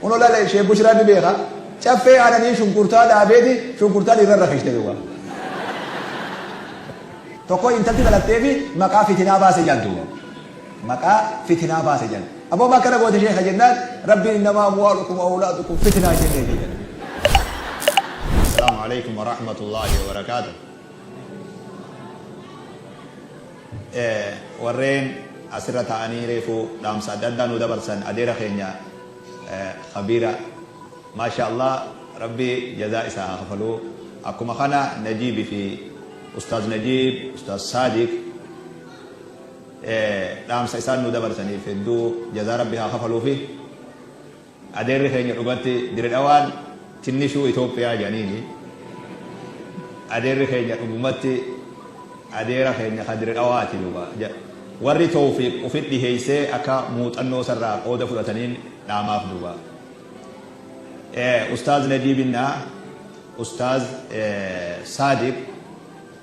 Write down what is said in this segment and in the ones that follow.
Kuno lale ishee bushraa ni beeka caffee aananii shunkurtaa dhaabeeti shunkurtaa dhiirra irra kishte duuba. Tokko intalti dhalattee fi maqaa fitinaa baase jedhan duuba. Maqaa fitinaa baase jedhan. Aboo ma akkana goote sheeka jennaan rabbiin innamaa amwaalukum awlaadukum fitinaa jennee fi jedhan. Assalaamu alaikum wa rahmatullahi wa barakaatuh. Warreen asirra taa'anii reefu dhaamsa adda addaa nuu dabarsan adeera keenya Khabiira Maashaa Allah Rabbi jazaa isaa haa kafaluu akkuma kana Najiib fi Ustaaz Najiib Ustaaz Saadiq dhaamsa isaan nuu dabarsaniif hedduu jazaa Rabbi haa kafaluufi. Adeerri keenya dhugatti diredhawaan tinnishuu Itoophiyaa jedhaniini adeerri keenya dhugumatti adeera keenya ka diredhawaati dhuga warri toofiq ufit dhiheessee akka muuxannoo sarraa qooda fudhataniin dhaamaaf dhuga ustaaz najii binnaa ustaaz saadiq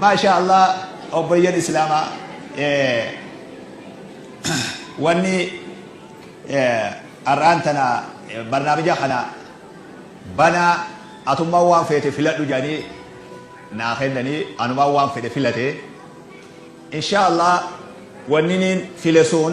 maashaa allah obboyyan islaamaa wanni ar'aan tana barnaamija kana banaa atummaan waan feete filadhu jedhanii naa kennanii anumaan waan fedhe filate inshaa allah wanniniin file sun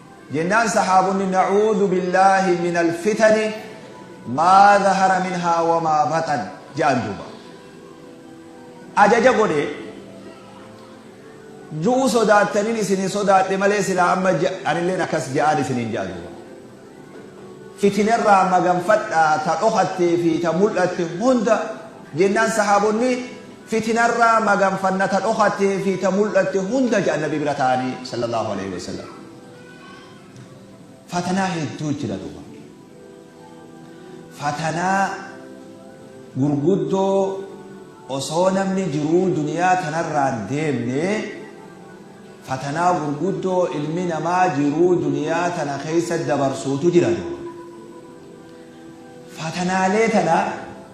Jennaan sahaabonni Nacuuzu billaahi minal fitani maa zahara minhaa wamaa baxan ja'an duuba. Ajaja godhe ju'uu sodaattanin isinin sodaadhe malee silaa amma anilleen akkas ja'aan isinin ja'a duuba. Fitinarraa maganfadhaa ta dhokattee fi ta mul'atte hunda jennaan sahaabonni Fitinarraa maganfanna ta dhokattee fi ta mul'atte hunda jedhan Nabii bira taa'anii Sallallaahu aleyhi wa sallam. Fatanaa hedduu jira duuba. Fatanaa gurguddoo osoo namni jiruu duniyaa tanarraan deemne fatanaa gurguddoo ilmi namaa jiruu duniyaa tana keessa dabarsuutu jira duuba. Fatanaalee tana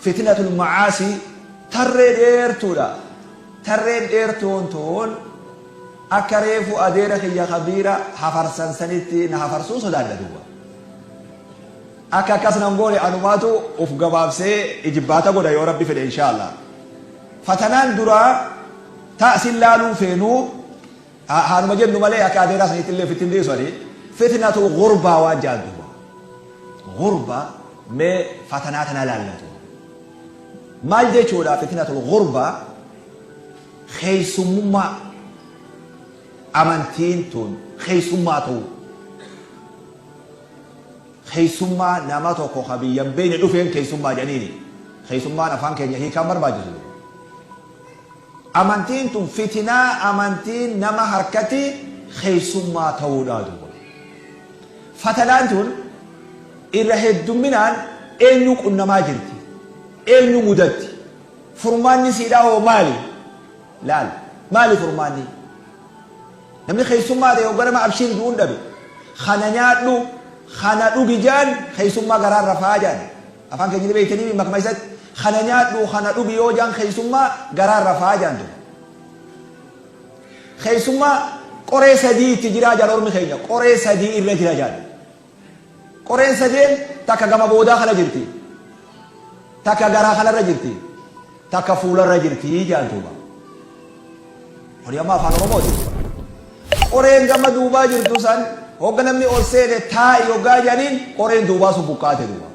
Fitnatul ma'aasii tarree dheertuudha. Tarreen dheertuun tun akka reefu adeera kiyya kabiira hafarsan sanitti na hafarsuu sodaadha duuba. Akka akkas nan goone anumaatu uf gabaabsee ijibbaata godha yoo rabbi fedhe inshaa Allah. Fatanaan duraa ta sin laaluu feenu Haa haanuma jennu malee akka adeeraa saniitti illee ofitti hin dhiisu ani fitnatu gurbaa waan ja'an duuba. Gurba mee fatanaa tanaa laallatu. Maal jechuudha fitnatul gurbaa keeysummaa amantiin tun keeysummaa ta'u. Keeysummaa nama tokko ka biyya hin beeyne dhufeen keeysummaa jedhaniini. Keeysummaan afaan keenya hiikaan barbaachisu. Amantiin tun fitinaa amantiin nama harkati keessummaa ta'uudha duuba. Fatanaan tun irra heddumminaan eenyu qunnamaa jirti? Eenyu mudatti? Furmaanni isiidhaa hoo maali? Laal maali furmaanni? Namni keessummaa ta'e hogga nama abshiir ju'uun dhabe kana nyaadhu kana dhugi ja'an keessummaa garaan rafaa ja'an. Afaan keenya ni beeytaniimi makma isatti Kana nyaadhu kana dhugi yoo jaan keeysummaa garaan rafaa jaan tun Keeysummaa qoree sadii itti jiraa jaan ormi keenya qoree sadii irra jira jaan Qoreen sadeen takka gama boodaa kana jirti takka garaa kanarra jirti takka fuularra jirti jedhan duuba. Kuni amma afaan Oromooti. Qoreen gama duubaa jirtu san hogga namni ol seene taa'i hoggaa jedhaniin qoreen duubaa sun buqqaate duuba.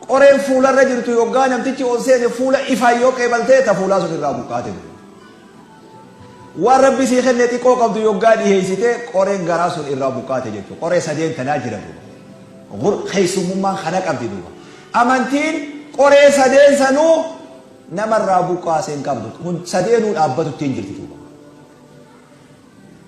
Qoreen fuularra jirtu hoggaa namtichi ol seene fuula ifaan yoo qeebaltee ta fuulaa sun irraa buqqaate duuba. Waan Rabbi sii kenne xiqqoo qabdu yoggaa dhiheessite qoreen garaa sun irraa buqqaate jechuudha. Qoree sadeen tanaa jira duuba. Gur keessummummaan kana qabdi duuba. Amantiin qoree sadeen sanuu namarraa buqqaase hin qabdu. Kun sadeenuu dhaabbatutti hin jirti duuba.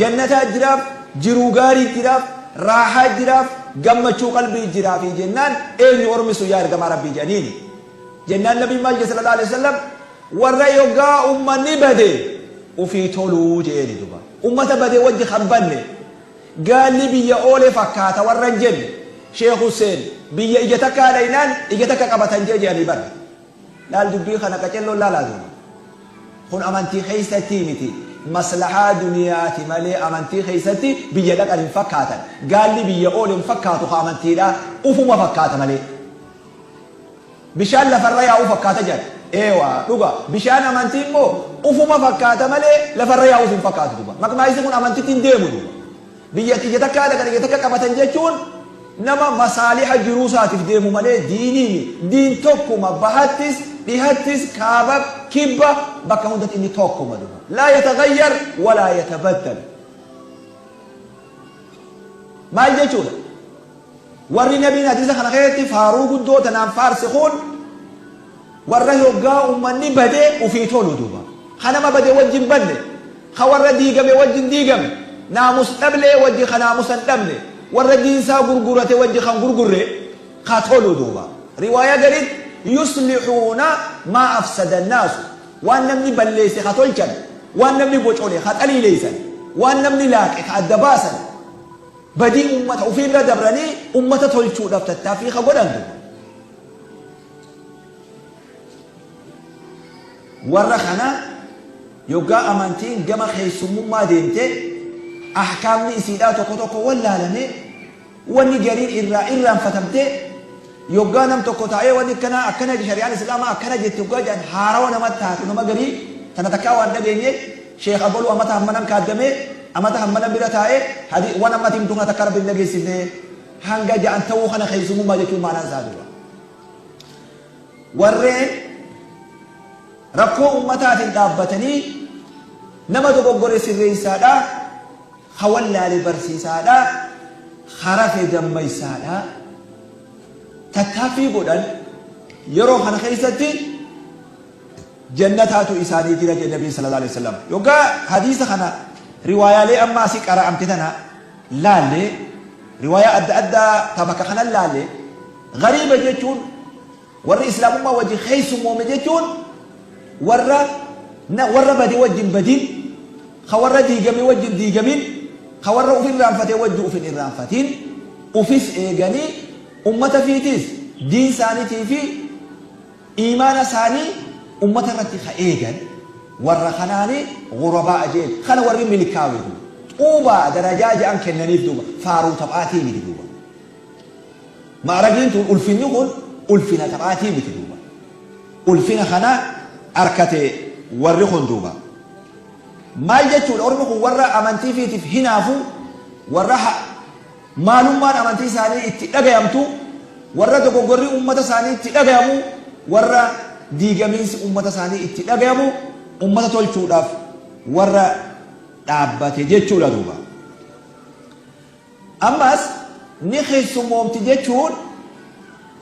Jannataa jiraaf, jiruu gaarii jiraaf, raahaa jiraaf, gammachuu qalbii jiraafii jennaan eenyu ormi sun yaa ergamaa Rabbii jedhaniini. Jennaan Nabiin maal jedhe sallallahu aleyhi wasallam warra yoggaa ummanni bade ufii toluu jedheeni duba. Ummata badee wajji kan banne gaalli biyya oole fakkaata warra hin jenne Sheikh Husseen biyya ija takkaa dhaynaan ija takka qabatan jee jedhanii bar. Laal dubbii kana qacelloon laalaa duuba. Kun amantii keessatti miti. Maslahaa duniyaati malee amantii keessatti biyya dhaqan hin fakkaatan. Gaalli biyya oole hin fakkaatu ka amantiidhaa. Ufuma fakkaata malee. Bishaan lafarra yaa'u fakkaata jedhan. Eewa, dhuga. Bishaan amantii immoo ufuma fakkaata malee lafarra yaa'uuf hin fakkaatu duuba. Maqmaayisi kun amantitti hin deemu duuba. Biyya tiyya takkaa dhaqan iyya takka qabatan jechuun nama masaaliha jiruu isaatiif deemu malee diinii mi. Diin tokkuma bahattis, dhihattis, kaabab, kibba bakka hundatti inni tokkuma dhuga. Laa yatagayyar walaa yatabaddal. Maal jechuudha? Warri nabiin hadiisa kana keessatti faaruu guddoo tanaan faarse kun warra hoggaa ummanni bade ufii tolu duuba. Ka nama bade wajji hin badne, ka warra diigame wajji hin diigamne, naamus dhablee wajji ka naamusa hin dhabne, warra diin isaa gurgurate wajji kan gurgurre ka tolu duuba. Riwaayaa gariitti yuslixuuna maa afsada annaasu waan namni balleesse ka tolchan, waan namni bocole ka xaliileessan, waan namni laaqe ka adda baasan, Badii ummata ufii bira dabranii ummata tolchuudhaaf tattaaffii ka godhantu warra kana yoggaa amantiin gama keessummummaa deemte ahkaamni isiidhaa tokko tokko wallaalame wanni gariin irraa irraanfatamte yoggaa nam tokko taa'ee wanni akkanaa akkana shari'aan islaamaa akkana jette yoggaa jedhan haarawa nama taatu nama garii tana takkaa waan dhageenye Sheikh Aboluu amata hammanam kaaddamee, amata hammanam bira taa'ee, hadi, wan amma ati himtu kana takka Rabbi hin dhageessifne, hanga ja'an ta'uu kana keessumummaa jechuun maanaan isaa duuba. Warreen rakkoo ummataatiin dhaabbatanii nama dogoggore sirreessaadha, ha wallaale barsiisaadha, ha rafe dammaysaadha. Tattaaffii godhan yeroo kana keessatti jannataatu isaanii jira jedhe Nabiin sallallaahu aleyhi wasallam. Yoggaa hadiisa kana riwaayaalee amma asii qara'amte tana laalle, riwaayaa adda addaa ta bakka kanan laalle, ghariiba jechuun warri islaamummaa wajjin keessummoome jechuun warra na warra bade wajjin badin, ka warra diigame wajjin diigamin, ka warra uf irraanfate wajji uf hin irraanfatin, ufis eeganii ummata fiitiis diin saanitii fi Iimaana isaanii ummata irratti ka eegan, warra kanaani ghurabaa'a je'en. Kana warri milkaawe duuba. Xuubaa darajaa ja'an kennaniif duuba. Faaruu taphaatii miti duuba. Ma'ragiin tun, ulfinni kun, ulfina taphaatii miti duuba. Ulfina kana arkate warri kun duuba. Maal jechuudha? Ormi kun warra amantii ifiitiif hinaafu, warra ha. Maalummaan amantii isaanii itti dhagayamtu warra dogoggorri ummata isaanii itti dhagayamu, warra diigamiinsi ummata isaanii itti dhagayamu ummata tolchuudhaaf warra dhaabbate jechuudha duuba. Ammas ni keessummoomti jechuun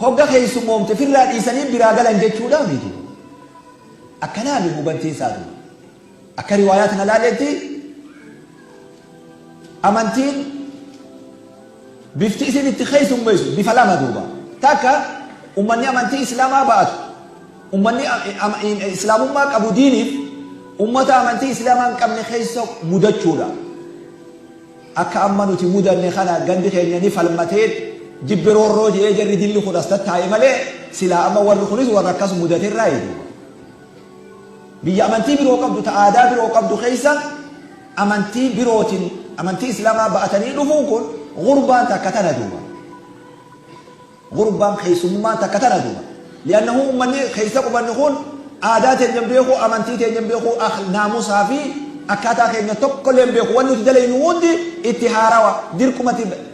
hogga keessummoomte firraa dhiisanii biraa galan jechuudhaa miiti. Akkanaami hubantiin isaa duuba. Akka riwaayaa tana laaleetti amantiin bifti isin itti keessummeessu bifa lama duuba. Takka ummanni amantii islaamaa ba'atu ummanni islaamummaa qabu diiniif ummata amantii islaamaa hin qabne keessa mudachuudha. Akka amma nuti mudanne kana gandi keenya ni falmatee jibbi roorroo jedhee jarri dilli kun as tattaa'e malee silaa amma warri kunis warra akkas mudaterraa eeguudha. Biyya amantii biroo qabdu ta aadaa biroo qabdu keessa amantii birootin amantii islamaa ba'atanii dhufuun kun gurbaan takka tana duuba. Gurbaan keessummaan takka tana duuba. Li'annahu ummanni keessa qubannu kun aadaa teenya hin beeku, amantii teenya hin beeku, naamusaa fi akkaataa keenya tokkollee hin beeku. Wan nuti dalaynu hundi itti haarawa dirqumatti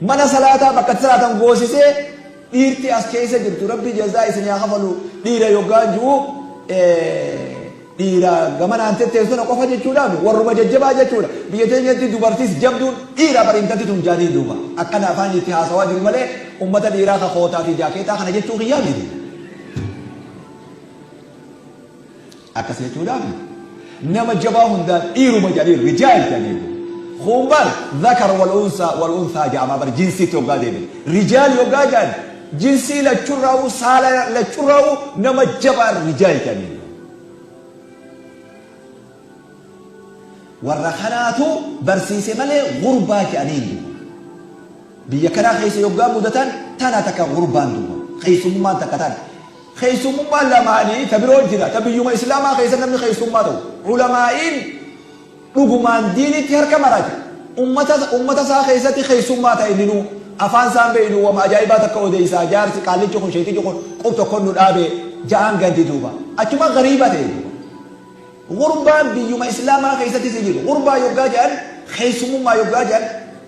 Mana salaataa bakka itti salaatan goosisee dhiirti as keessa jirtu rabbi jazaa isin yaa kafalu dhiira yoggaan ju'u dhiira gamanaan tetteen sana qofa jechuudhaami warruma jajjabaa jechuudha biyya teenyatti dubartiis jabduun dhiira bar intalti tun jaanii duuba akkana afaan itti haasawaa jiru malee ummata dhiiraa ka kootaa fi jaakeetaa kana jechuu kiyyaa miti. Akkas jechuudhaan nama jabaa hundaan dhiiruma jedhanii rijaal jedhanii kun bar zakar wal unsaa wal unsaa jedhama bar jinsiitti hoggaa deebiin rijaal hoggaa jedhan jinsii lachurraa'uu saala lachurraa'uu nama jabaa rijaal jedhanii warra kanaatu barsiise malee gurbaa jedhanii hin biyya kanaa keessa hoggaa mudatan tana takka gurbaan duuba keessummaan takka tana Keessummummaan lamaanii ta biroo jira, ta biyyuma Islaamaa keessa namni keessummaa ta'u. Ulamaa'iin dhugumaan diinitti harka marate, ummata ummata isaa keessatti keessummaa ta'e inni nuu, afaan isaan beeynu wama ajaa'ibaa takka odeeysaa, jaarsi, qaallichi kun, sheeytichi kun qub tokkon nu dhaabe ja'aan ganti duuba. Achuma gariiba ta'e duuba. Gurbaan biyyuma Islaamaa keessatti si jiru, gurbaa yoggaa ja'an, keessummummaa yoggaa ja'an,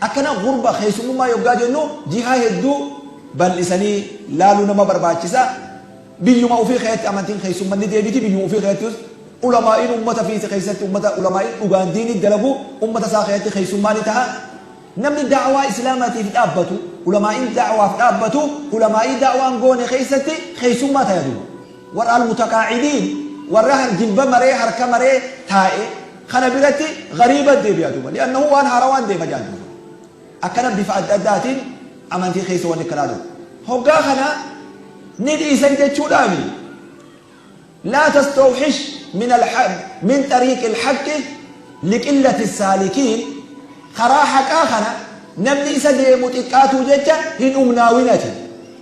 Akkana gurba keessummummaa yoggaa jennu jihaa hedduu bal'isanii laaluu nama barbaachisa. Biyyuma ufii keessatti amantiin keessumman ni deebiti, biyyuma ufii keessattis ulamaa'iin ummata fiise keessatti ummata ulamaa'iin dhugaan diinii dalagu ummata isaa keessatti keessummaa ni taha. Namni da'awaa Islaamaatiif dhaabbatu, ulamaa'iin da'awaaf dhaabbatu, ulamaa'ii da'awaan goone keessatti keessummaa taya duuba. Warra Al-Mutaqaa'idiin, warra jilba maree, harka maree taa'e, kana biratti ghariiba deebi'a duuba. Li'annahu waan haarawaan deema jedhan duuba. Akkana bifa adda addaatiin amantii keessa wanni akkanaa dhufa. Hoggaa kana ni dhiisan jechuudhaami. Laa tastawxish min al-haq min xariiqi al-haqqi liqillati saalikiin karaa haqaa kana namni isa deemu xiqqaatuu jecha hin humnaawin ati.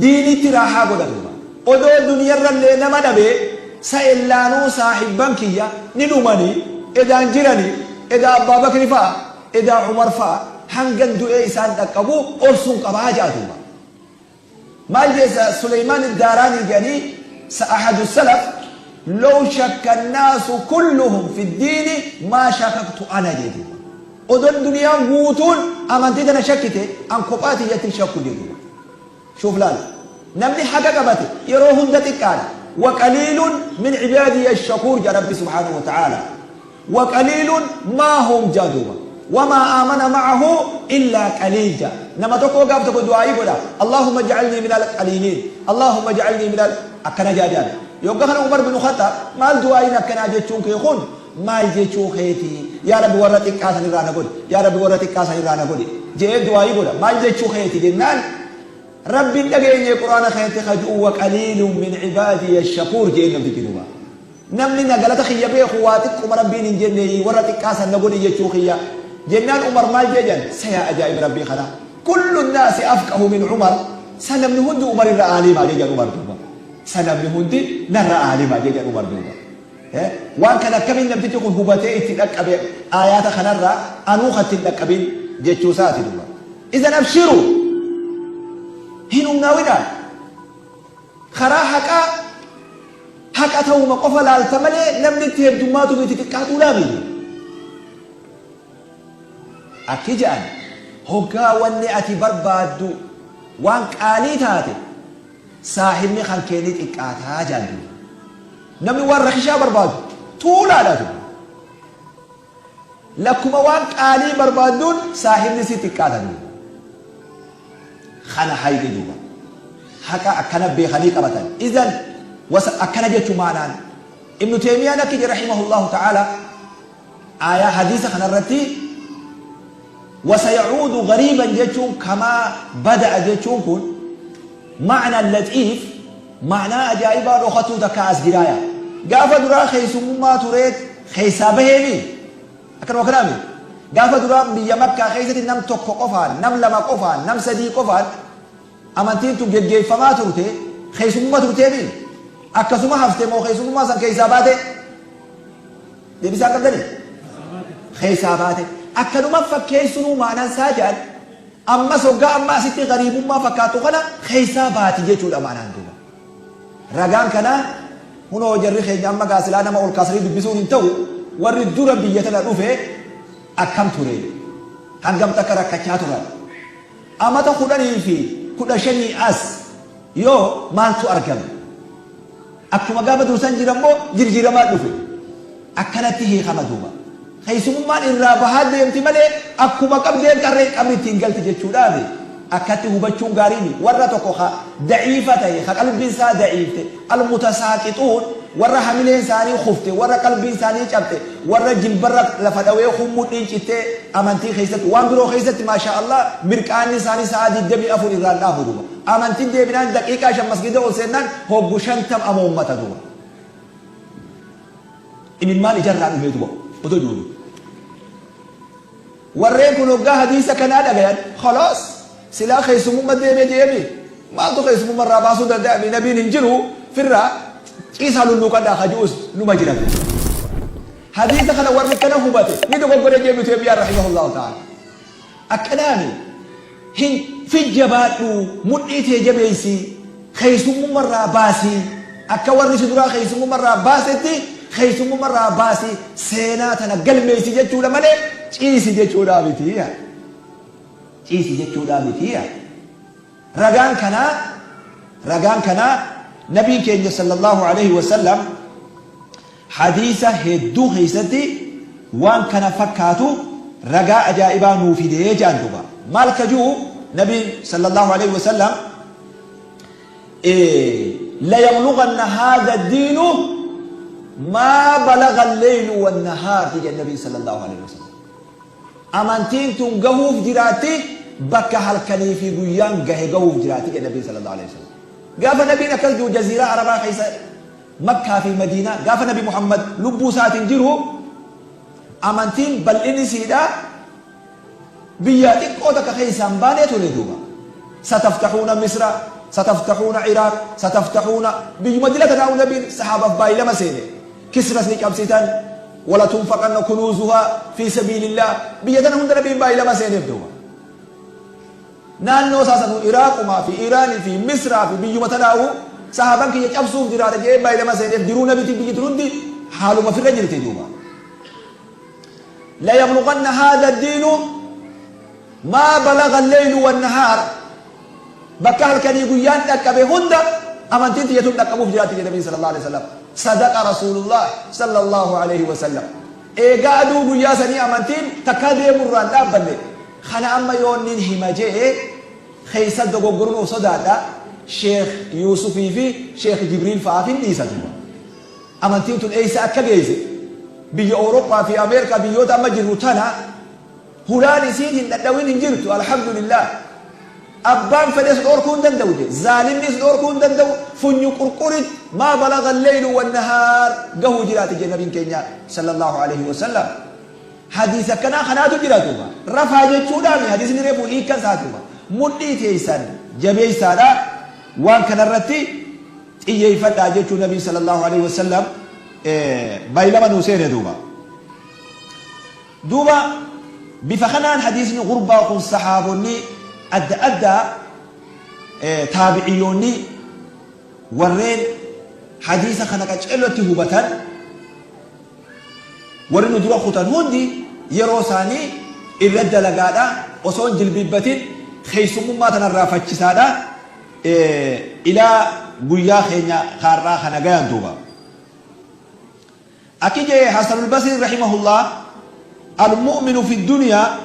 diiniitti raahaa godhatuuma. Odoo duniyarrallee nama dhabee sa'ellaanuu saahibban kiyya ni dhumanii, edaa hin jiranii, edaa Abbaa Bakri fa'a, edaa Umar fa'a hangan du'ee isaan dhaqqabu obsuun qaba ja'atuuma. Maal je'e sa Suleymaan Iddaaraanii je'anii sa Ahadu Salaf, Low shakka annaasu kulluhum fiddiini maa shakaktu ana je'e duuba. Odon duniyaan guutuun amantii tana shakkite an kophaa tiyyatti hin shakku jechuudha. Shuuf laala. Namni haqa qabate yeroo hunda xiqqaadha. Waqaliilun min cibaadiyya shakuur jedha Rabbi subhaanahu wa ta'aala. Waqaliilun maa hum jedha duuba. Wamaa aamana ma'ahu illaa qaliil jedha. Nama tokkoo gaaf tokko du'aa'ii godha. Allaahumma ja'alnii minal qaliiliin. Allaahumma ja'alnii minal akkana jedha jedha. Yogga kana Umar bin Khaxxaab maal du'aa'iin akkanaa jechuun kee kun maal jechuu keetii? Yaa Rabbi warra xiqqaa san irraa na godhi, yaa Rabbi warra xiqqaa san irraa na godhi je'ee du'aa'ii godha. Maal jechuu keeti jennaan Rabbi hin dhageenyee Qur'aana keessatti ka ju'u wa qaliilun min cibaadiya shakuur je'een namtichi duuba. Namni na galata kiyya beeku waa xiqquma Rabbiin hin jenneeyii warra xiqqaa san na godhi jechuu kiyya. Jennaan Umar maal je'e jan sa yaa ajaa'iba Rabbii kana kullu naasi afqahu min Umar sa namni hundi Umar irra aaliima je'e jan Umar duuba. Sa namni hundi narra aaliima je'e jan Umar duuba. Waan kana akkamiin namtichi kun hubatee itti dhaqqabe aayaata kanarraa anuu kan ittiin dhaqqabin jechuu isaati duba. Izan abshiru hin humnaawidha. Karaa haqaa haqa ta'uma qofa laalta malee namni itti heddummaatu miti xiqqaatuu laami. Akki jedhan hoggaa wanni ati barbaaddu waan qaalii taate Saahibni kankee ni xiqqaata jaan duuba. Namni waan rakishaa barbaadu tuulaadha duuba. Lakkuma waan qaalii barbaadduun saahibni si xiqqaata duuba. Kana hayni duuba. Haqa akkana beekanii qabatan. Izan wasa akkana jechu maanaan. Ibnu Teemiyaan akki jedhe rahimahullahu ta'ala. Aayah, hadiisa, kana irratti wasayacuudu gariiban jechuun kamaa bada'a jechuun kun ma'na laxiif ma'naa ajaa'ibaa dhokatuu takkaa as jiraaya. Gaafa duraa keessummummaa tureet keessaa baheemi akkanuma kanaami. Gaafa duraa biyya makkaa keessatti nam tokko qofaan, nam lama qofaan, nam sadii qofaan amantiin tun geggeeffamaa turte keessummumma turteemi akkasuma hafte moo keessummummaa san keessaa baate? Deebisaa akka gale keessaa baate. Akkanuma fakkeessunuu maanaan isaa jedhan ammas hoggaa amma asitti gariibummaa fakkaatu kana keessaa baati jechuudha maanaan duuba. Ragaan kanaa hunoo jarri keenya amma gaasilaa nama ol kaasanii dubbisuun hin ta'u warri dura biyya tana dhufe akkam ture hangam takka rakkachaa turan Amata kudhanii fi kudha shanii as yoo maaltu argame? Akkuma gaafa dursan jiran moo jirjiiramaa dhufe? Akkanatti hiikama duuba. Keessumummaan irraa bahaa deemti malee akkuma qabdeen tarree qabri ittiin galti jechuudhaafi. Akkatti hubachuun gaariin warra tokko ka da'iifa ta'e ka qalbiin isaa da'iifte Al-Mutasaaqixuun, Warra hamileen isaanii kufte, warra qalbiin isaanii cabxe, warra jilbarra lafa dhawee kuun mudhiin cittee amantii keessatti, waan biroo keessatti maashaa Allaah mirqaanni isaanii sa'aa 24 irraa hin dhaabu duuba. Amantiin deebinaan daqiiqaa 5 masgiida ol seennaan hoggu 50 amoommata duuba. Imimmaan ija irraa dhumee duuba odoo jiru. Warreen kun hoggaa hadiisa kanaa dhagayan khalaas silaa keessummumma deeme jee mii maaltu keessummumma irraa baasuu danda'a mii nabiin hin jiru firraa ciisaa lulluuqadhaa ka ji'us numa jira fi hadiisa kana warri kana hubate ni dogoggore jee ibnu teemiyaa rahimahullahu ta'ala akkanaani Hin fid jabaadhuu mudhii tee jabeeysii keeysummumma irraa baasii akka warri si duraa keeysummumma irraa baasetti keeysummumma irraa baasii seenaa tana galmeeysi jechuudha malee ciisi jechuudhaa mitii yaa ciisi jechuudhaa mitii yaa ragaan kanaa ragaan kanaa nabiin keenya sallallahu aleyhi wasallam Hadiisa hedduu keessatti waan kana fakkaatu ragaa ajaa'ibaa nuu fide jedhan duuba. Maal ka ji'u Nabiin sallallahu aleyh wasallam Layabluganna haadha diinu maa balaga leylu wannahaarti jedhan Nabiin sallallahu aleyh wasallam. Amantiin tun gahuuf jiraatti bakka halkanii fi guyyaan gahe gahuuf jiraatti jedhan Nabiin sallallahu aleyh wasallam. Gaafa Nabiin akkas ji'u jaziiraa Arabaa keessa Makkaa fi Madiinaa gaafa Nabi Muhammad lubbuu isaatiin jiru amantiin bal'inni isiidhaa biyyaa xiqqoo takka keessaa hin baanee ture duuba. Sataftahuuna Misra, sataftahuuna Iraaq, sataftahuuna biyyuma dila tanaa'u Nabiin sahaabaaf baay'ee lama seene. Kisras ni cabsitan, walatunfaqanna kunuuzuhaa fi sabiilillah biyya tana hunda Nabiin baay'ee lama seeneef duuba. Naannoo isaa sanuu Iraaqumaa fi Iiraanii fi Misraa fi biyyuma tanaahuu sahaaban kiyya cabsuuf jiraata je'ee baylama seeneef jiruu nabitiin biyyi tun hundi haaluma firra jirti duuba. Layablughanna haadha diinu maa balaga leylu wannahaar bakka halkanii guyyaan dhaqqabe hunda amantiin tiyya tun dhaqqabuuf jiraatti jedhe nabiin sallallahu alaihi wasallam. Sadaqa rasuulullah sallallahu alaihi wasallam. Eegaa aduu guyyaa sanii amantiin takkaa deemurraan dhaabbanne Kana amma yoon nin hima je'e keessa dogoggoruun sodaadha, Sheekh Yuusufii fi Sheekh Jibriil fa'aaf hin dhiisa duuba. Amantiin tun eessa akka geesse, biyya Awurooppaa fi Ameerikaa biyyoota amma jirru tana hulaan isiin hin dhadhawin hin jirtu, Alhamdulillaah. Abbaan fedhes dhoorkuu hin danda'u je'e, zaalimnis dhoorkuu hin danda'u, funyu qurqurit maa balaga al-leylu wan-nahaar gahuu jiraate je'e Nabiin keenya, Sallallaahu aleyhi wa sallam. Hadiis akkanaa kanaatu jira duuba. Rafaa jechuudhaami hadiisni reefu hiikkan isaa duuba. Mudhii teeysan jabeeysaadha waan kanarratti xiyyeeyfadhaa jechuu nabiin sallallahu aleyhi wa sallam baylama nuu seene duuba. Duuba bifa kanaan hadiisni gurbaa kun sahaabonni adda addaa taabiciyyoonni warreen hadiisa kana qaceellotti hubatan Warri nu dura kutan hundi yeroo isaanii irra dalagaadha, osoo hin jilbiibbatin keessummummaa tana irraa fachisaadha. Ilaa guyyaa keenya ka har'aa kana gayan duuba. Akki je'e Hasanul Basriin rahimahullah, Al-mu'minu fi duniyaa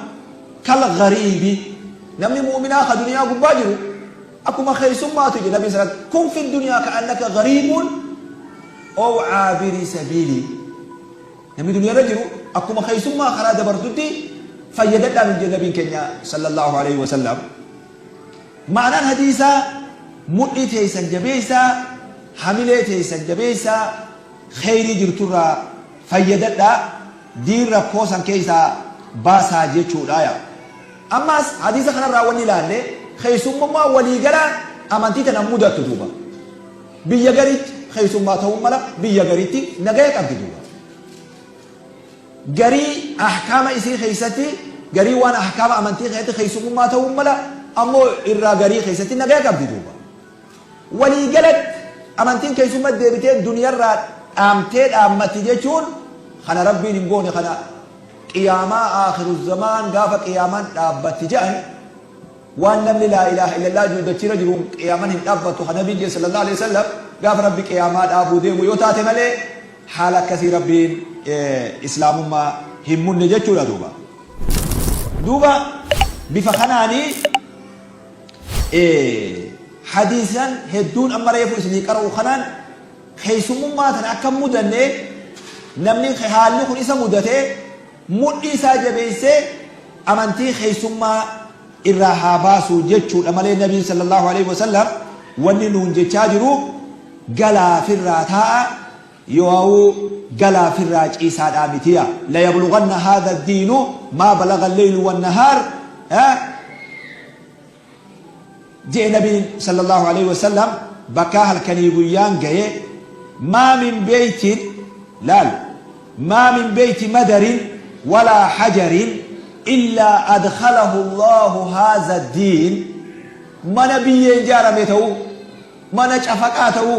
kal-ghariibi, Namni mu'minaa ka duniyaa gubbaa jiru, Akkuma keessummaatu jedhe Nabiin salat kun fi duniyaa ka'annaka gariibuun ow caabiri sabiilii namni duniyaa irra jiru akkuma keessummaa karaa dabartutti fayyadadhaa nuun jedhe Nabiin keenya sallallahu alaihi wasallam maanaan hadiisaa mudhii teeysan jabeeysaa hamilee teeysan jabeeysaa kheyrii jirturraa fayyadadhaa diin rakkoo san keeysaa baasaa jechuudhaaya Ammaas hadiisa kanarraa wanni ilaalle keessummummaan walii galaa amantii tana mudattu duuba. Biyya gariitti keessummaa ta'uun mala biyya gariitti nagaya qabdi duuba. Garii ahkaama isii keessatti garii waan ahkaama amantii keessatti keessummummaa ta'uun mala ammoo irraa garii keessatti nagaya qabdi duuba. Waliigalatti, amantiin keessumma deebitee duniyarraa dhaamtee dhaammatti jechuun kana Rabbiin hin goone kana Qiyaamaa Aakhiruzzamaan gaafa Qiyaamaan dhaabbatti jedhan waan namni laa ilaaha illallah jiru dachiirra jiru Qiyaaman hin dhaabbattu kan Nabiin jedhe sallallahu alaihi wasallam gaafa Rabbi Qiyaamaa dhaabuu deemu yoo taate malee haala akkasii Rabbiin Islaamummaa hin munne jechuudha duuba. Duuba bifa kanaanii ee hadiisnan hedduun amma reefu isinii qara'u kanaan keessummummaa tana akka hin mudanne namni haalli kun isa mudate mudhii isaa jabeessee amantii keessummaa irraa haa baasu jechuudha malee nabiin sallallahu alaihi wasallam wanni nuun jechaa jiru galaa firraa taa'a Yoauu galaa firraa ciisaa dhaa miti yaa layablughanna haadha addiinu maa balagha alleylu wannahaar je'e nabiin sallallahu aleyhi wasallam bakkaa halkanii guyyaan gayee maa min beytin laal maa min beyti madarin walaa hajarin illaa adkhalahu allahu haadha addiin mana biyyeen jaarame ta'uu mana cafaqaa ta'uu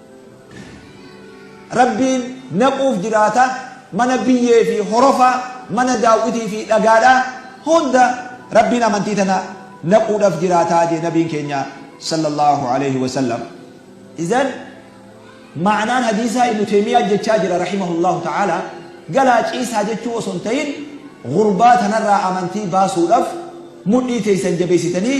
Rabbiin naquuf jiraata, mana biyyee fi horofa, mana daaw'itii fi dhagaadha hunda Rabbiin amantii tana naquudhaf jiraata jee Nabiin keenya Sallallaahu aleyhi wa sallam. Izan ma'anaan hadiisaa Ibnu Teymiyaan jechaa jira rahimahullaahu ta'aalaa, galaa ciisaa jechuu osoo hin tahin, ghurbaa tanarraa amantii baasuudhaf mudhii teeysan jabeeysitanii,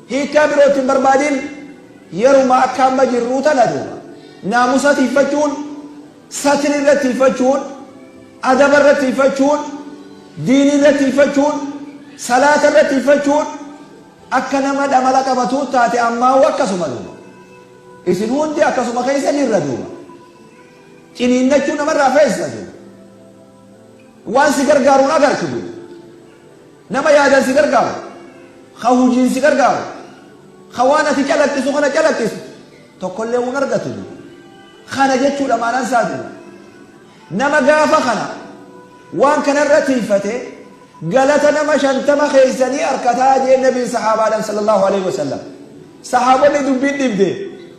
Hiikkaa biroo itti hin barbaadin yeruma akka amma jirruu tana duuba naamusa tiiyfachuun, satri irra tiiyfachuun, adaba irra tiiyfachuun, diinii irra tiiyfachuun, salaata irra tiiyfachuun akka nama dhamala qabatuut taate ammaahuu akkasuma duuba. Isin hundi akkasuma keessa jirra duuba. Ciniinnachuu namarraa feesisa duuba. Waan si gargaaru hin agartu duuba. Nama yaadan si gargaaru, ka hujiin si gargaaru, ka waan ati calaqqisu kana calaqqisu tokkollee hin argatu duuba. Kana jechuudha maanaan isaa duuba. Nama gaafa kana waan kanarra tiifate galata nama shantama keessanii arkataa jeen nabiin sahaabaadhaan sallallahu alaihi wasallam. Sahaabonni dubbiin dhibde.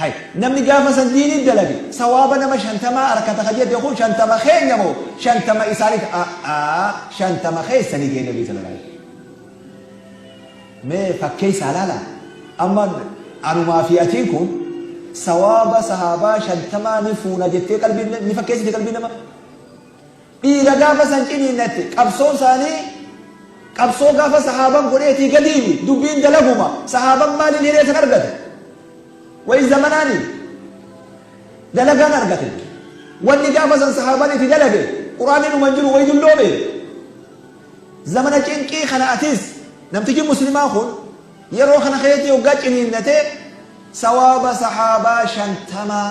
Hay namni gaafa san diinii dalage sawaaba nama shantamaa arkata ka jete kun shantama keenya moo shantama isaaniti a'aa shantama keessani jee nabii sallallahu alaihi wasallam mee fakkeessaa laala amma anumaa fi atiin kun sawaaba sahaabaa shantamaa ni fuuna jettee qalbii ni fakkeessite qalbii nama Dhiira gaafa san ciniinnatte qabsoon saanii qabsoo gaafa sahaaban godheetii gadiimi dubbiin dalaguma sahaaban maaliin hiree san argate wayi zamanaani dalagaan argate wanni gaafa san sahaaban itti dalage quraanni numan jiru wayi dulloome zamana cinqii kana atis namtichi muslimaa kun yeroo kana keetii hoggaa ciniinnate sawaaba sahaabaa shantamaa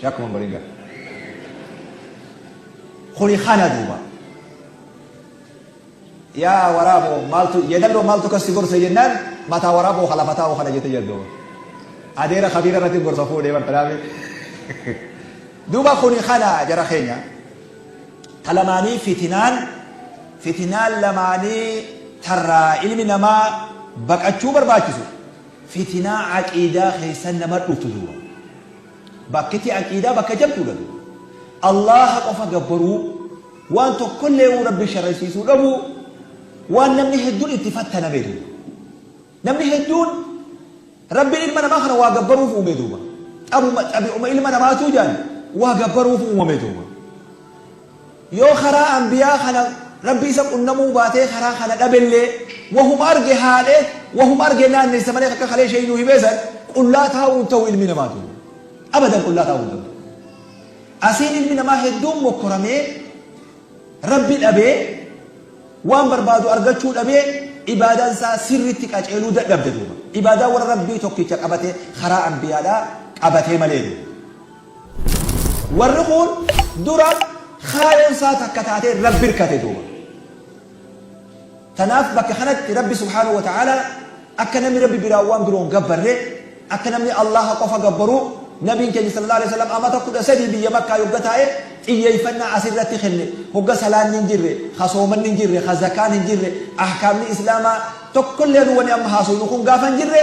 Shakuma Mbaringa. Kuni kana duuba. Yaa waraaboo maaltu yeedalloo maaltu kasi gorsa jennaan mataa waraaboo halafataa oo kana jette yeddoo. Adeera kabiira irratti gorsa fuudhee bartanaami. Duuba kuni kana jara keenya. Talamaanii fitinaan fitinaan lamaanii tarraa ilmi namaa baqachuu barbaachisu. Fitinaa aqiidaa keessa nama dhuftu duuba. Bakkiti aqiidaa bakka jabduudha duuba. Allaaha qofa gabbaruu, waan tokkollee'uu Rabbi sharaysiisuu dhabuu, waan namni hedduun itti fattaname duuba. Namni hedduun Rabbiin ilma namaa kana waa gabbaruuf uume duuba. Xabuma xabi'uma ilma namaatuu jaan waa gabbaruuf uumame duuba. Yoo karaa anbiyaa kana Rabbi isa qunnamuu baatee karaa kana dhabellee, wahuma arge haadhee, wahuma arge naannessa malee akka kalee Sheeyni nuu himee san qullaa taa'uu hin ta'u ilmi namaa tun. Abadan qullaa taa'uu hin ta'u. Asiin ilmi namaa hedduun mokkoramee, Rabbi dhabee, waan barbaadu argachuu dhabee, ibaadaan isaa sirriitti qaceeluu dadhabde duuba. Ibaadaa warra Rabbii tokkicha qabatee karaa anbiyaadhaa qabatee malee duuba. Warri kuun dura kaayoon isaa takka taatee Rabbi hirkate duuba. Tanaaf bakka kanatti Rabbi subhaanahu wa ta'aalaa akka namni Rabbi biraa waan biroon gabbarre akka namni Allaha qofa gabbaruu Nabiin keenya sallallahu alaihi wasallam amata kudha sadii biyya Makkaa yogga taa'e xiyyeeffannaa asirratti kenne hogga salaanni hin jirre ha soomanni hin jirre ha zakaan hin jirre ahkaamni islaamaa tokkollee nu wani amma haasofnu kun gaafa hin jirre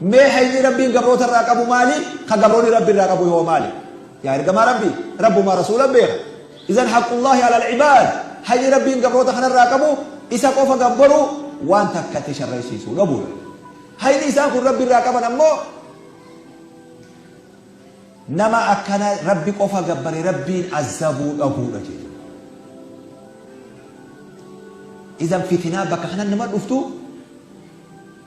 Mee hayni Rabbiin gabroota irraa qabu maali? Ka gabroonni Rabbi irraa qabu hoo maali? Yaa ergamaa Rabbii! Rabbumaa Rasuula beeka. Izan haqqullaahi alal ibaad, hayni Rabbiin gabroota kana irraa qabu Isa qofa gabbaruu, waan takka itti sharraysiisuu dhabuu dha. Hayni isaan kun Rabbi irraa qaban ammoo, nama akkana Rabbi qofa gabbare Rabbiin azzabuu dhabuu dha jechuudha. Izan fitinaa bakka kanatti nama dhuftu,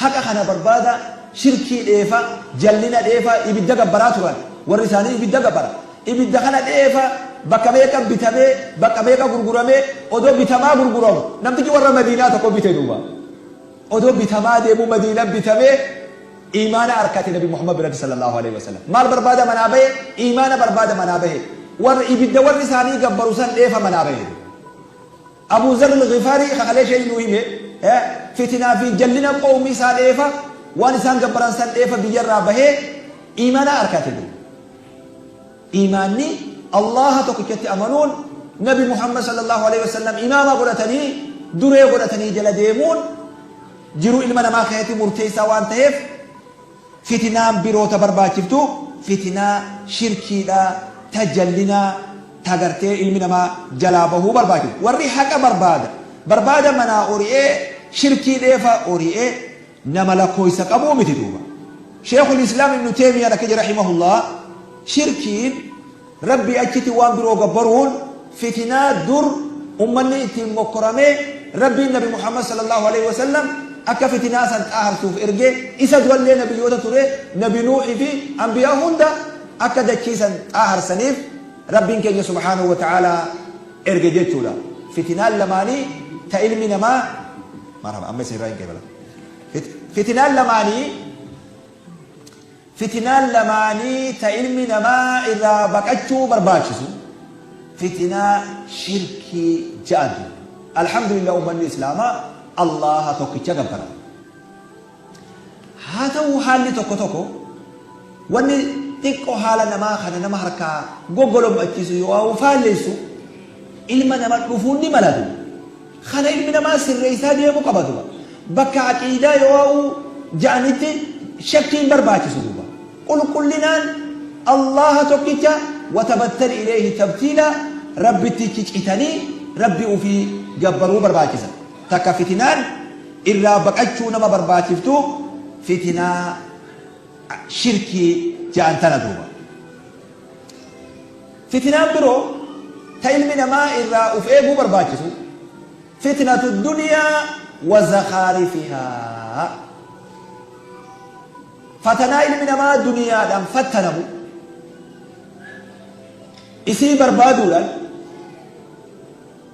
Haqa kana barbaadaa, shirkii dheefaa, jallina dheefaa, ibidda gabbaraa turan. Warri isaanii ibidda gabbara. Ibidda kana dheefaa, bakka meeqa bitamee, bakka meeqa gurguramee, odoo bitamaa gurguramu, namtichi warra Madiinaa tokko bite duuba. Odoo bitamaa deemuu Madiina bitamee, iimaana arkate Nabi Muhammad biratti sallallaahu aleyhi wa sallam. Maal barbaada manaa bahe? Iimaana barbaada manaa bahe. Warra ibidda warri isaanii gabbaru san dheefa manaa bahe. Abuu Zarr Al-Ghifaarii ka kaleesha inni nuu hime, fitinaa fi jallina qowmii isaa dheefa, waan isaan gabbaran san dheefa biyya irraa bahee iimaana arkate duuba. Iimaanni Allaaha tokkichatti amanuun, Nabi Muhammad sallallaahu aleyhi wa sallam imaama godhatanii, duree godhatanii jala deemuun jiruu ilma namaa keessatti murteessaa waan taheef, Fitinaan biroo ta barbaachiftu fitinaa shirkiidha, ta jallinaa, ta gartee ilmi namaa jalaa bahuu barbaachiftu. Warri haqa barbaada, barbaada manaa ori'ee shirkii dheefa ori'e nama lakkooysa qabuu miti duuba. Sheekhul Islaam Ibnu Teymiyaan akka jedhe rahimahullah, shirkiin. Rabbii achitti waan biroo gabbaruun fitinaa dur ummanni ittiin mokkoramee Rabbiin Nabi Muhammad sallallaahu aleyhi wa sallam akka fitinaa san xaaharsuuf erge, isa durallee nabiyyoota ture nabi Nuuhi fi anbiyaa hunda akka dachii san xaaharsaniif Rabbiin keenya subhaanahu wa ta'aalaa erge jechuudha. Fitinaan lamaanii ta ilmi namaa Marhaba amma isinirraa hin qeebala. Fitinaan lamaanii Fitinaan lamaanii ta ilmi namaa irraa baqachuu barbaachisu fitinaa shirkii ja'antu. Alhamdulillah ummanni Islaamaa Allaaha tokkicha gabbara. Haa ta'uu haalli tokko tokko wanni xiqqo haala namaa kana nama harkaa goggolom'achiisu yoo'aa'u faalleessu ilma nama dhufuun ni malatu. Kana ilmi namaa sirreessaa deemuu qaba duuba. Bakka aqiidaa yoo'uu ja'anitti shakkii hin barbaachisu duuba. Qulqullinaan Allaaha tokkicha watabattali ileeyhi tabtiilaa Rabbittichi citanii Rabbi ufii gabbaruu barbaachisa. Takka fitinaan irraa baqachuu nama barbaachiftu fitinaa shirkii ja'an tana duuba. Fitinaan biroo ta ilmi namaa irraa uf eeguu barbaachisu, fitnatu duniyaa wa zakhaarifihaa. Fatanaa ilmi namaa duniyaadhaan fattanamu, isii barbaaduudhaan,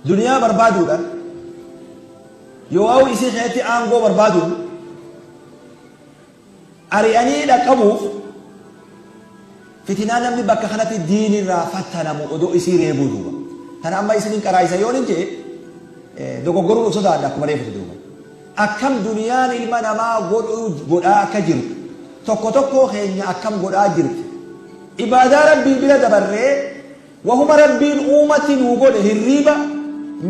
duniyaa barbaaduudhaan, yoowaawuu isii keessatti aangoo barbaaduun, ari'anii dhaqqabuuf fitinaa namni bakka kanatti diin irraa fattanamu odoo isii reebuu duuba tana amma isinin qaraayisa yoonin jee dogoggoruu of sodaadha akkuma reefutu duuba akkam duniyaan ilma namaa godhuu godhaa akka jirtu tokko tokkoo keenya akkam godhaa jirti ibaadaa rabbii bira dabarree Wahuma Rabbiin uumatti nuu godhe hirriiba,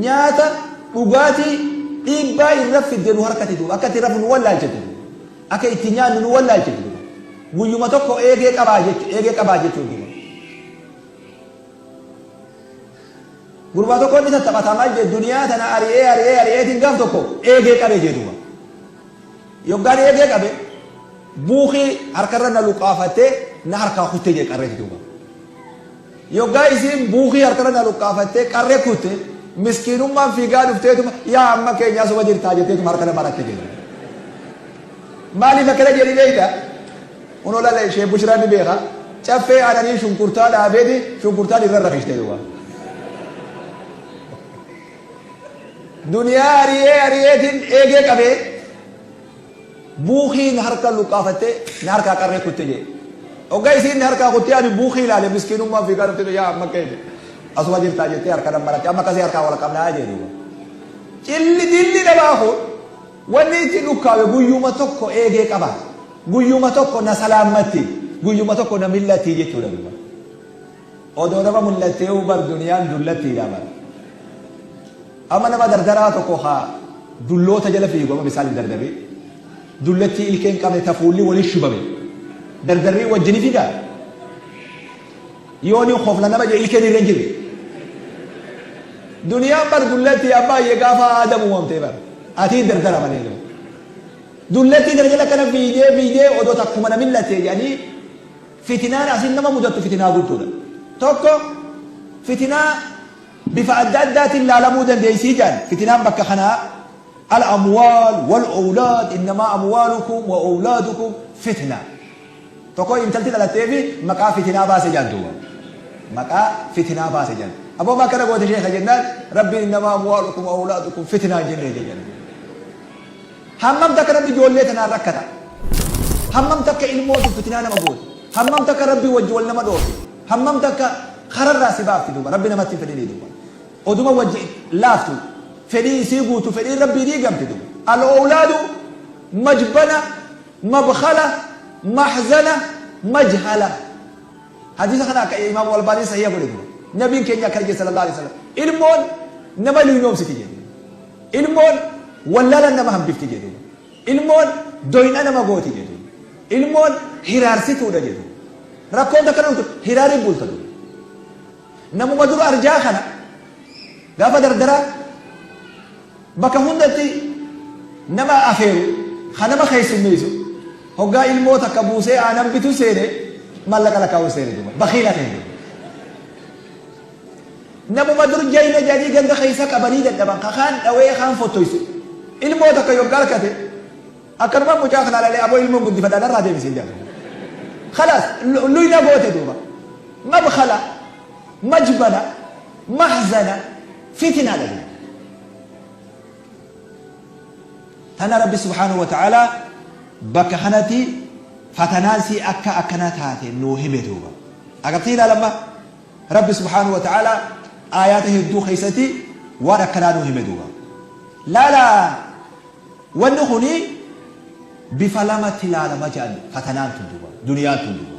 nyaata, dhugaatii, dhiibbaa irra fidde nu harkatti duuba. Akka itti rafnu nu wallaalchite duuba. Akka itti nyaannu nu wallaalchite duuba. Guyyuma tokko eegee qabaa jechu, eegee qabaa jechuun duuba. Gurbaa tokko inni tattaphata maal jedhe duniyaa tana ari'ee ari'ee ari'eetiin gaaf tokko eegee qabee jee duuba. Yoggaan eegee qabe buukii harkarra na luqqaafattee na harkaa kutte jee qarreeti duuba. Yoggaa isiin buukii harkarra na luqqaafattee qarree kutte miskiinummaan fiigaa dhufteetuma yaa amma keenyaa suma jirtaa jetteetuma harka na maratte jee. Maaliif akkana jedhi beekta? Kunoo lala ishee bushiraan ni beeka. Caffee aananii shunkurtaa dhaabeeti shunkurtaan irra rafishte duuba. Duniyaa ari'ee ari'eetiin eegee qabee buukii na harka luqqaafattee na harkaa qarree kutte jee. Oggaa isiin na harkaa kuttee ani buukii ilaale miskiinummaan fiigaa dhuftee yaa amma keeti. Asuma jirtaa jettee harka nan maratte amma akkasii harkaa wal qabnaa jee duuba. Cilli dilli dhabaa kun wanni itti dhukkaawe guyyuma tokko eegee qaba. Guyyuma tokko na salaammatti. Guyyuma tokko na millatti jechuudha duuba. Odoo nama mul'atteeyuu bar duniyaan dullattiidha bar. Amma nama dardaraa tokko ka dulloota jala fiigu amma misaal hin dardarii. Dullattii ilkee hin qabne ta fuulli wali shubame. Dardarrii wajji ni figaa? Yoo ni kofla nama je ilkeen irra hin jirre. Duniyaan bar dullattii abbaa ye gaafa aadam uumamtee bar. Atii dardara malee jiru. Dullattii kana jala kana fiigee fiigee odoo takkuma na mil'attee jedhanii Fitinaan asiin nama mudattu fitinaa guddoodha. Tokko fitinaa bifa adda addaatiin laalamuu dandeessii jedhan fitinaan bakka kanaa al amwaal wal owlaad innamaa amwaalukum wa owlaadukum fitna. Tokko intalti dhalattee fi maqaa fitinaa baase jedhan duuba. Maqaa fitinaa baase jedhan. Aboo maal kana goote sheekha jennaan rabbiin innamaa amwaalukum wa owlaadukum fitnaa jennee jedhan. Hammam takka rabbi ijoollee tanaan rakkata? Hammam takka ilmoo tun fitinaa nama gooti? Hammam takka rabbi wajji wal nama dhoorti? Hammam takka kararraa si baafti duuba rabbi namatti hin fedhinii duuba. Oduma wajji laaftu fedhii isii guutu fedhiin rabbii diigamti duuba. Al-owlaadu majbana mabkhala mahzana majhala. Hadiisa kana akka Imaamu Albaaniin sahiiha godhe dura. Nabiin keenya akkana jedhe sallallahu aleyhi wa sallam, ilmoon nama luynoomsiti jedhe duuba. Ilmoon wallaalan nama hambifti jedhe duuba. Ilmoon doyna nama gooti jedhe duuba. Ilmoon hiraarsituudha jedhe duuba. Rakkoon takka nama turte hiraariin bulta duuba. Namuma dura arjaa kana gaafa dardaraa Bakka hundatti nama afeeru, ka nama keessummeessu, hoggaa ilmoo takka buusee aanan bitu seene maallaqa lakkaa'uu seene duuba. Bakiila ta'e duuba. Namuma dur jayna jedhanii ganda keessa qabanii dadhaban ka kaan dhawee kaan fottoysu. Ilmoo takka yoggaa argate akkanuma mucaa kana lalee aboo ilmoon guddifadha narraa deebisee jedha. Kalaas luyna goote duuba. Mabkala majbala Mahzana, fitina dha jedhe. Tana Rabbi subhaanahu wa ta'aalaa bakka kanatti fatanaan sii akka akkana taate nuu hime duuba. Agartee ilaala amma Rabbi subhaanahu wa ta'aalaa aayaata hedduu keessatti waan akkanaa nuu hime duuba. Laala wanni kuni bifa lamatti ilaalama jedhan fatanaan tun duuba duniyaan tun duuba.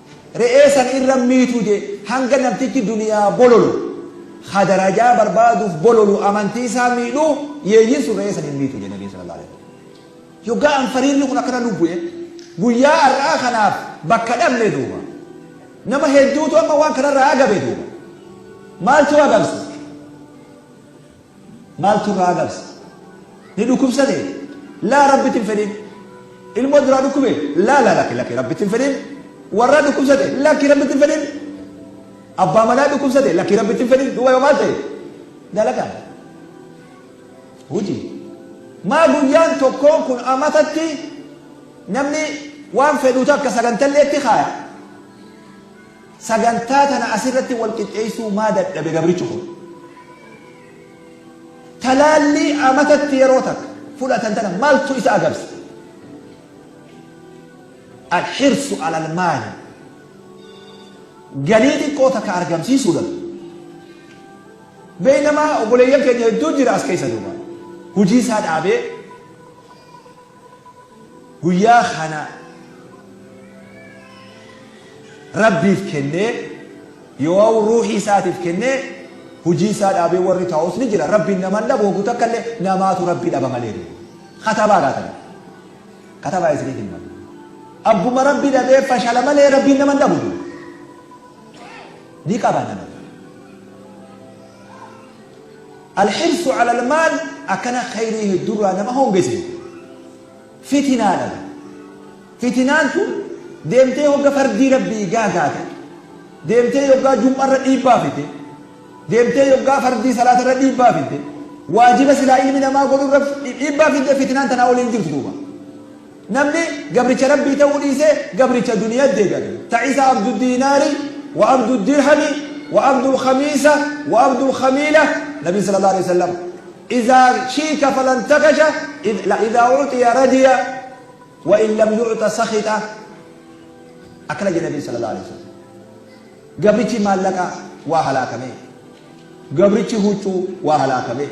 Re'ee san irra miitu je hanga namtichi duniyaa bololu ha darajaa barbaaduuf bololu amantii isaa miidhu yeeyyin sun re'ee san hin miitu je nabiin sallallahu alaihi wasallam. Yoggaa anfariirri kun akkana nu bu'e guyyaa ar'aa kanaaf bakka dhabne duuba. Nama hedduutu amma waan kanarraa agabe duuba. Maaltu agamse? Maaltu irraa agabse? Ni dhukkubsate? Laa rabbitti hin fedhin. Ilmoo duraa dhukkube? Laa laa lakki lakki rabbitti hin fedhin. Warraa dhukkubsate? Lakki rabbitti hin fedhin. Abbaa manaa dhukkubsate? Lakki rabbitti hin fedhin. Duuba yoo maal ta'e? Dalagaa. Hojii. Maa guyyaan tokkoon kun amatatti namni waan fedhuu takka sagantalleetti kaaya. Sagantaa tana asirratti wal qixxeessuu maa dadhabe gabrichi kun? Talaallii amatatti yeroo takka fudhatan tana maaltu isa agabse? Alhirsu alal maali? Galii xiqqoo takka argamsiisuudhaaf. Beeynamaa obboleeyyan keenya hedduu jira as keessa duuba. Hujii isaa dhaabee guyyaa kana rabbiif kennee yoo'u ruuhii isaatiif kennee hujii isaa dhaabee warri taa'us ni jira rabbiin naman dhabu hogguu takka illee namaatu rabbi dhaba malee katabaa gaatan katabaa isiniif hin malu abbuma rabbi dhabee fashala malee rabbiin naman dhabu ni qaba nama Alhirsu alal maal akkana khayrii heddurraa nama hongese. Fitinaadha. Fitinaan tun deemtee hogga fardii rabbii gaagaate. Deemtee yoggaa jum'arra dhiibbaa fite. Deemtee yoggaa fardii salaatarra dhiibbaa fite. Waajiba silaa ilmi namaa godhurra dhiibbaa fidde fitinaan tanaa olii hin jirtu duuba. Namni gabricha Rabbii ta'uu dhiise gabricha duniyatti deebi'ate. Ta isa abdu diinaari, wa abdu dirhami, wa abdul khamiisa, wa abdul khamiila, Nabiin sallallahu aleyhi wa sallam, Izaa shiika falan takasha, la izaa u'tiya radiya, wa in lam yu'ta sakhita. Akkana jedhe Nabiin sallallahu aleyhi wa sallam. Gabrichi maallaqa waa halaakame. Gabrichi huccuu waa halaakame.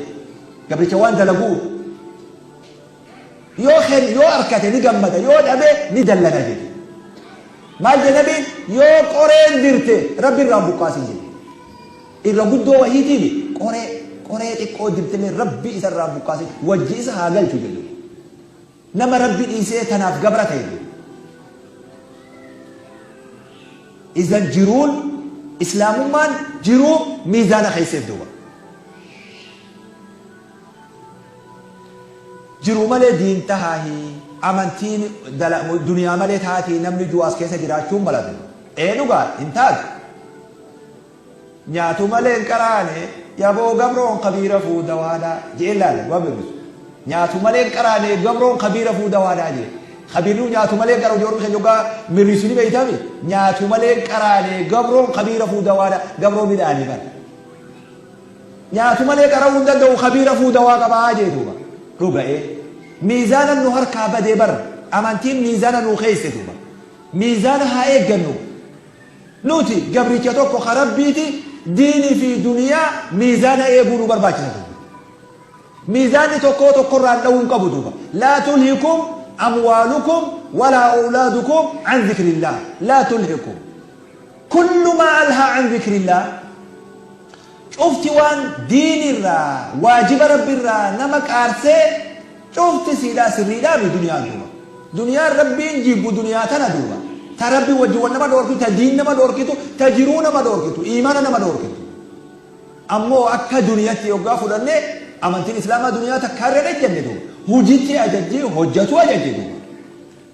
Gabricha waan dalagu'u. Yoo khen yoo arkate ni gammada yoo dhabe ni dallana jedhe. Maal jedhe nabiin yoo qoreen dirte rabbi irraa hin buqqaasin jedhe. Irra guddoo wahiitiifi qoree qoree xiqqoo dirtillee rabbi isa irraa hin buqqaasin wajji isa haa galchu jedhe. Nama rabbi dhiisee tanaaf gabra ta'e jedhe. Izan jiruun islaamummaan jiruu miizaana keesseef duuba. Jiruu malee diin tahaahi amantiin dala duniyaa malee taatii namni juu as keessa jiraachuu hin malatu. Ee dhugaadha hin taatu. Nyaatu malee hin qaraane yaboo gabroon kabiira fuu dawaadha jee laala waan beeku. Nyaatu malee hin qaraane gabroon kabiira fuu dawaadha jee. Kabiiruu nyaatu malee hin qaraane hojii warri keenya dhugaa mirriisu ni beeytami. Nyaatu malee hin qaraane gabroon kabiira fuu dawaadha gabroo midhaanii kana. nyaatu malee qara'uu hin danda'u kabii rafuu dawaa qaba jee duuba dhuga ee miizaanan nu harkaa badee bar amantiin miizaana nuu keeyse duuba miizaana haa eeggannu nuti gabricha tokko ka rabbiiti diini fi duniyaa miizaana eeguu nu barbaachisa duuba miizaanni tokkoo tokkorraan dha'uu hin qabu duuba laa tulhikum amwaalukum walaa awlaadukum an zikrillaah laa tulhikum kullu maa alhaa an zikrillaah Cufti waan diini irraa waajiba Rabbi irraa nama qaarsee cufti siidhaa sirriidhaami duniyaa duuba. Duniyaan Rabbiin jibbu duniyaa tana duuba. Ta Rabbi wajji wal nama dhoorkitu, ta diin nama dhoorkitu, ta jiruu nama dhoorkitu, iimaana nama dhoorkitu. Ammoo akka duniyatti yoggaa fudhanne amantiin Islaamaa duniyaa takkaa irra hin ejjanne duuba. Hujitti ajajji, hojjatu ajajji duuba.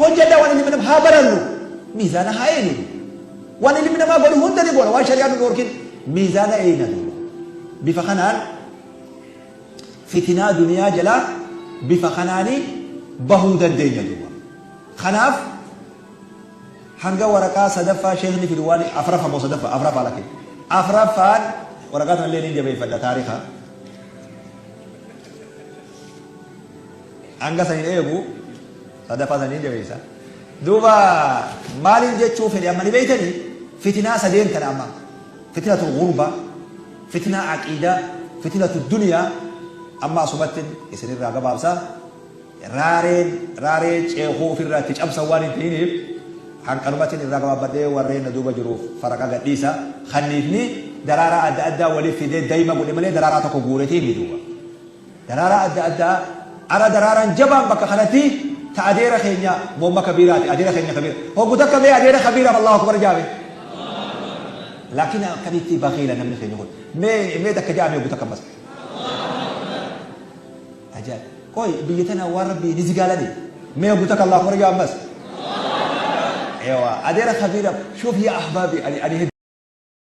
Hojjadhaa waan ilmi namaa haa barannu miizaana haa eeynu duuba. Waan ilmi namaa godhu hunda ni goona waan shari'aan nu dhoorkin miizaana eeyna duuba. Bifa kanaan fitinaa duniyaa jalaa bifa kanaani bahuu dandeenya duuba. Kanaaf hanga waraqaa sadaffaa sheekni fidu waan afraffaa moo sadaffaa afraffaa lakke. Afraffaan waraqaa tanallee niin jabeeffadha taarikaa. Hanga san hin eegu sadaffaa san hin jabeessa. Duuba maaliin jechuu fedhe amma ni beeytanii fitinaa sadeen tana amma fitinatul gurba fitinaa aqiidaa fitinatul duniyaa amma asumattin isinirraa gabaabsa raareen raaree ceekuu ofirraa itti cabsan waan hin ta'iniif hanqanumattin irraa gabaabbadhee warreen na duuba jiruuf faraqa gadhiisa kanniifni daraaraa adda addaa waliif fidee daima godhe malee daraaraa tokko guuretii miti duuba. Daraaraa adda addaa Ara daraaraan jabaan bakka kanati ta adeera keenya momma kabiiraati adeera keenya kabiira hoggu takka mee adeera kabiiraaf allahu akbar jaa mee laakiin akkamitti bakiila namni keenya kun mee mee takka jaa mee hoggu takka ammas ajaa qoy biyya tana waan rabbii ni zigaalani mee hoggu takka allahu akbar jaa ammas ewa adeera kabiiraaf shuuf yaa ahbaabi ani ani